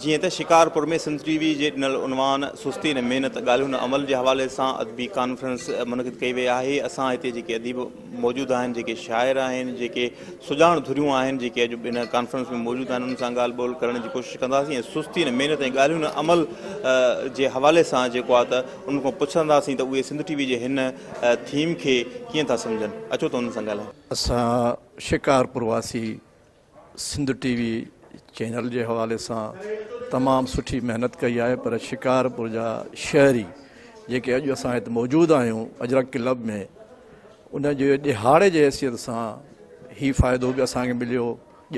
جيئن ته شڪارپور ۾ سنڌ ٽي وي جي ڏنل عنوان سستي نه محنت ڳالهيون نه عمل جي حوالي سان ادبي ڪانفرنس منعقد ڪئي وئي آهي اسان هتي جيڪي اديب موجود آهن جيڪي شاعر آهن جيڪي سڄاڻ ڌريون آهن جيڪي اڄ ان ڪانفرنس ۾ موجود آهن انهن سان ڳالهه ٻولهه ڪرڻ جي ڪوشش ڪنداسين ۽ سستي نه محنت ۽ ڳالهيون نه عمل جي حوالي سان جيڪو آهي ته انهن کان پڇنداسين ته اهي سنڌ ٽي وي جي هن ٿيم کي ڪيئن ٿا سمجهن اچو ته انهن سان ڳالهايون. اسان شڪارپور واسي سنڌ ٽي وي چينل جي حوالي سان تمام سٺي محنت ڪئي آهي پر شڪارپور جا شهري جيڪي اڄ اسان هت موجود آهيون اجرڪ ڪلب ۾ ان جي ڏهاڙي جي حيثيت سان هي فائدو به اسان کي مليو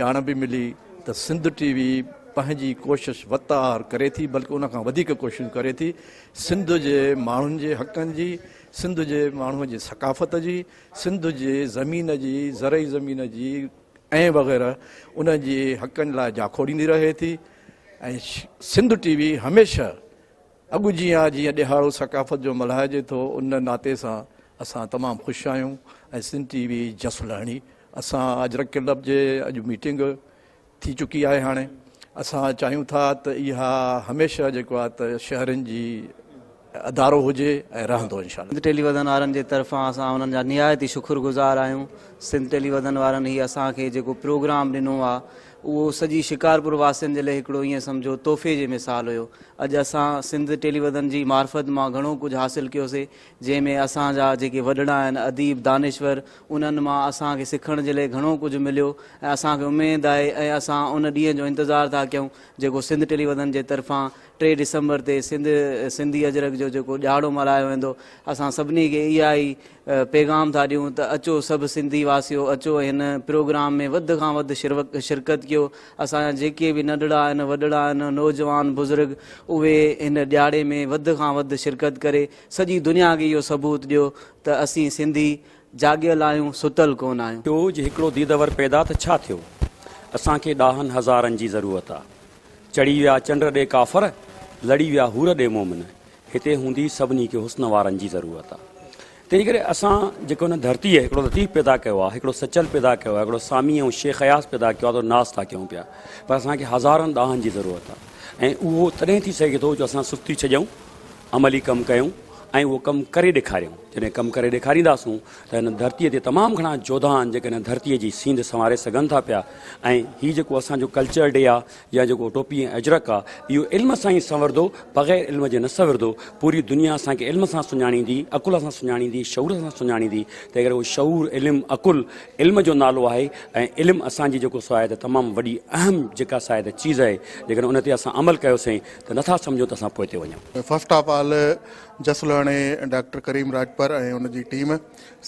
ڄاڻ به ملي ته سنڌ ٽي وي پنهنجي ڪوشش وت آهر ڪري ٿي بلڪ ان کان وڌيڪ ڪوشش ڪري ٿي سنڌ جي ماڻهن جي حقن جي سنڌ جي ماڻهن جي ثقافت جي سنڌ جي زمين جي زرعي زمين جي ۽ وغيره ان جي حقن لاء جاکوڙيندي رهي ٿي ۽ سنڌ ٽي وي هميشه اڳ جيان جيئن ڏيهاڙو ثقافت جو ملهائجي ٿو ان ناتي سان اسان تمام خوش آهيون ۽ سنڌ ٽي وي جس لهڻي اسان اجرڪ ڪلب جي اڄ ميٽنگ ٿي چڪي آهي هاڻي اسان چاهيون ٿا ته اها هميشه جيڪو آهي ته شهرين جي ادارو هجي ۽ رهندو انشاء الله. سنڌ ٽيلي وڌن وارن جي طرفان اسان انهن جا نهايت ئي شڪر گذار آهيون سنڌ ٽيلي وڌن وارن هي اسان کي جيڪو پروگرام ڏنو آ اهو سڄي شڪارپور واسين جي لئي هڪڙو ائين سمجهو تحفي جي مثال هيو اڄ اسان سنڌ ٽيلي وڌن جي معرفت مان گهڻو ڪجهه حاصل ڪيوسي جنهن ۾ اسان جا جيڪي وڏڙا آهن اديب دانشور انهن مان اسان کي سکڻ جي لئي گهڻو ڪجهه مليو ۽ اسان کي اميد آهي ۽ اسان ان ڏينهن جو انتظار ٿا ڪيون جيڪو سنڌ ٽيلي وڌن جي طرفان ٽي ڊسمبر تي سنڌ سنڌي اجرڪ جو جيڪو ڏهاڙو ملهايو ويندو اسان سڀني کي اها ئي پيغام ٿا ڏيون ته اچو سڀ سنڌي واسيو اچو هن پروگرام ۾ وڌ کان وڌ شرڪت ڪيو اسان جا جيڪي به ننڍڙا آهن وڏڙا آهن نوجوان بزرگ اهي هن ڏهاڙي ۾ وڌ کان وڌ شرڪت ڪري سڄي دنيا کي اهو ثبوت ڏيو ته اسين سنڌي جاڳيل آهيون ستل ڪونه آهيون. ٽو جي هڪڙو ديدور پيدا ته ڇا ٿيو اسان کي ڏاهن هزارن جي ضرورت آهي چڙهي ويا چنڊ ڏي ڪافر، لڙي ويا حور ڏي مومن، هتي هوندي سڀني کي حسن وارن جي ضرورت آ. تنهنجي ڪري اسان جيڪو هن ڌرتيء هڪڙو لطيف پيدا ڪيو آ، هڪڙو سچل پيدا ڪيو آ، هڪڙو سامي ۽ شيخ اياز پيدا ڪيو آ تو ناز ٿا ڪيون پيا، پر اسان کي هزارن ڏاهن جي ضرورت آ ۽ اهو تڏهن ٿي سگهي ٿو جو اسان سستي ڇڏيون عملي ڪم ڪيون ۽ اهو ڪم ڪري ڏيکاريون. جڏهن ڪم ڪري ڏيکارينداسون ته هن ڌرتيء تي تمام گهڻا جوڌا آهن جيڪي هن ڌرتيء جي سينڌ سنواري سگهن ٿا پيا ۽ هي جيڪو اسان جو ڪلچر ڊي آهي يا جيڪو ٽوپي ۽ اجرڪ آهي اهو علم سان ئي سنوردو بغير علم جي نه سنوردو پوري دنيا اسان کي علم سان سڃاڻيندي عقل سان سڃاڻيندي شعور سان سڃاڻيندي تنهن ڪري اهو شعور علم عقل علم جو نالو آهي ۽ علم اسان جي جيڪو سو آهي ته تمام وڏي اهم جيڪا سا آهي ته چيز آهي جيڪڏهن ان تي اسان عمل ڪيوسين ته نٿا سمجهون ته اسان پوئتي وڃون. فرسٽ آف آل جس لهڻي ڊاڪٽر ڪريم راڄپر ۽ ان جي ٽيم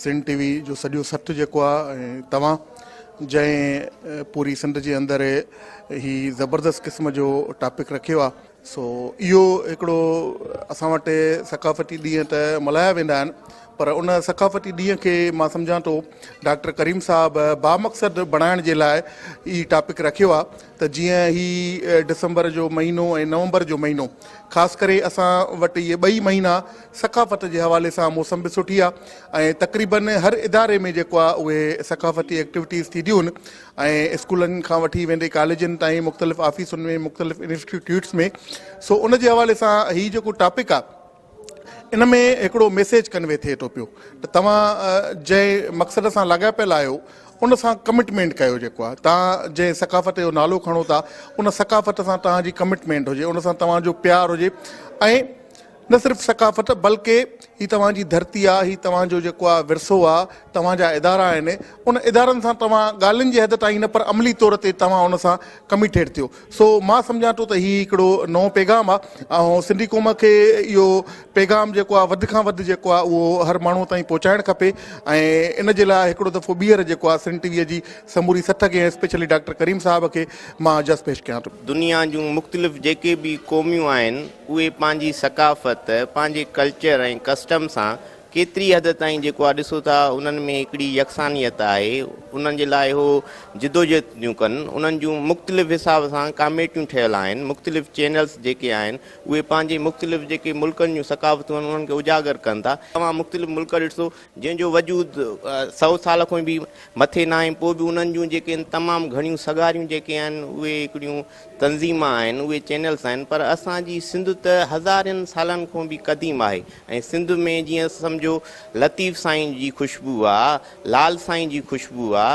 سنڌ ٽي وي جو سڄو سٿ جيڪو آ ۽ توهان جنهن پوري سنڌ جي اندر هي زبردست قسم جو ٽاپڪ رکيو آ سو اهو هڪڙو اسان وٽ ثقافتي ڏينهن ته ملهايا ويندا آهن پر ان ثقافتي ڏينهن کي مان سمجهان ٿو ڊاڪٽر ڪريم صاحب بامقصد بڻائڻ جي لاء هي ٽاپڪ رکيو آ ته جيئن هي ڊسمبر جو مهينو ۽ نومبر جو مهينو خاص ڪري اسان وٽ اهي ٻئي مهينا ثقافت جي حوالي سان موسم به سٺي آهي ۽ تقريبن هر اداري ۾ جيڪو آهي اهي ثقافتي ايڪٽيوٽيز ٿينديون آهن ۽ اسڪولن کان وٺي ويندي ڪاليجن تائين مختلف آفيسن ۾ مختلف انسٽيٽيوٽس ۾ سو ان جي حوالي سان هي جيڪو ٽاپڪ آهي ان ۾ هڪڙو ميسيج ڪنوي ٿئي ٿو پيو ته توهان جنهن مقصد سان لاڳاپيل آهيو ان سان ڪمٽمينٽ ڪيو جيڪو آهي توهان جنهن ثقافت جو نالو کڻو ٿا ان ثقافت سان توهان جي ڪمٽمينٽ هجي ان سان توهان جو پيار هجي ۽ نه صرف ثقافت بلڪه هي توهان جي ڌرتي آهي هي توهان جو جيڪو آهي ورثو آهي توهان جا ادارا آهن ان ادارن سان توهان ڳالهين جي حد تائين نه پر عملي طور تي توهان ان سان ڪميٽيڊ ٿيو سو مان سمجهان ٿو ته هي هڪڙو نئون پيغام آ ۽ سنڌي قوم کي اهو پيغام جيڪو آ وڌ کان وڌ جيڪو آ اهو هر ماڻهو تائين پهچائڻ کپي ۽ ان جي لاء هڪڙو دفعو ٻيهر جيڪو آ سنڌ ٽي وي جي سموري سٿ کي ۽ اسپيشلي ڊاڪٽر ڪريم صاحب کي مان جس پيش ڪيان ٿو. دنيا جون مختلف جيڪي به قوميون آهن اهي پنهنجي ثقافت، پنهنجي ڪلچر ۽ ڪسٽم سان ڪيتري حد تائين جيڪو آ ڏسو ٿا انهن ۾ هڪڙي يڪسانيت آهي انهن جي لاء هو جدوجهد ٿيون ڪن انهن جون مختلف حساب سان ڪاميٽيون ٺهيل آهن مختلف چينلز جيڪي آهن اهي پنهنجي مختلف جيڪي ملڪن جون ثقافتون آهن انهن کي اجاگر ڪن ٿا توهان مختلف ملڪ ڏسو جنهن جو وجود سؤ سال کان به مٿي ناهي پوء به انهن جون جيڪي تمام گهڻيون سگهاريون جيڪي آهن اهي هڪڙيون تنظيم آهن اهي چينلس آهن پر اسان جي سنڌ ته هزارين سالن کون به قديم آهي ۽ سنڌ ۾ جيئن سمجهو لطيف سائين جي خوشبو آ لال سائين جي خوشبو آ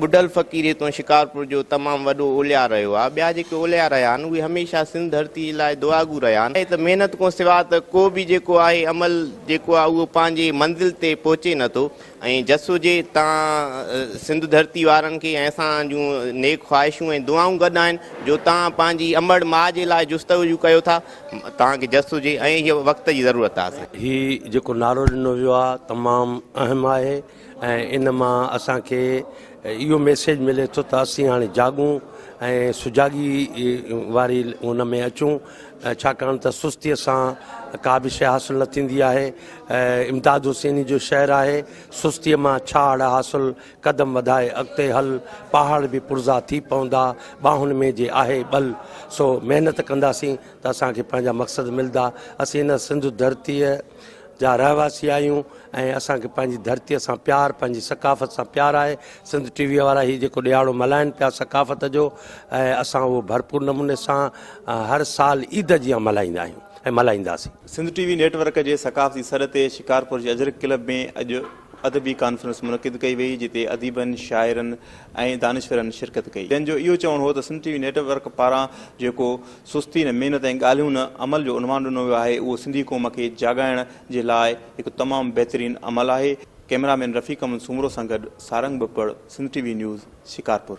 ٻڍل فقير هتون شڪارپور جو تمام وڏو اولياء رهيو آ ٻيا جيڪي اولياء رهيا آهن اهي هميشه سنڌ ڌرتي لاء دعاگو رهيا آهن ته محنت کون سوا ته ڪو به جيڪو آهي عمل جيڪو آ اهو پنهنجي منزل تي پهچي نه ٿو ۽ جس هجي تان سنڌ ڌرتي وارن کي ۽ اسان جون نيڪ خواهشون ۽ دعائون گڏ آهن جو تان پنهنجي امڙ ماء جي لاء جستجو ڪيو ٿا تان کي جس هجي ۽ هي وقت جي ضرورت آهي اسان هي جيڪو نعرو ڏنو ويو آهي تمام اهم آهي ۽ ان مان اسان کي اهو ميسيج ملي ٿو ته اسين هاڻي جاڳون ۽ سجاڳي واري ان ۾ اچون ڇاڪاڻ ته سستيء سان ڪا به شيء حاصل نه ٿيندي آهي. امداد حسيني جو شعر آهي، سستيء مان ڇا اڙ حاصل، قدم وڌائي اڳتي هل، پهاڙ به پرزا ٿي پوندا، ٻانهن ۾ جي آهي ٻل. سو محنت ڪنداسين ته اسان کي پنهنجا مقصد ملدا. اسين هن سنڌ ڌرتيء. جا رهواسي آهيون ۽ اسان کي پنهنجي ڌرتيء سان پيار پنهنجي ثقافت سان پيار آهي سنڌ ٽي ويء وارا هي جيڪو ڏيهاڙو ملهائين پيا ثقافت جو ۽ اسان اهو ڀرپور نموني سان هر سال عيد جيان ملهائيندا آهيون ۽ ملهائينداسين. سنڌ ٽي وي نيٽ ورڪ جي ثقافتي سڏ تي شڪارپور جي اجرڪ ڪلب ۾ اڄ ادبي ڪانفرنس منعقد ڪئي وئي جتي اديبن، شاعرن ۽ دانشورن شرڪت ڪئي جن جو اهو چوڻ هو ته سنڌ ٽي وي نيٽ ورڪ پاران جيڪو سستي نه محنت ۽ ڳالهيون نه عمل جو عنوان ڏنو ويو آهي اهو سنڌي قوم کي جاڳائڻ جي لاء هڪ تمام بهترين عمل آهي ڪئميرا مين رفيق احمد سومرو سان گڏ سارنگ ٻپڙ سنڌ ٽي وي نيوز شڪارپور.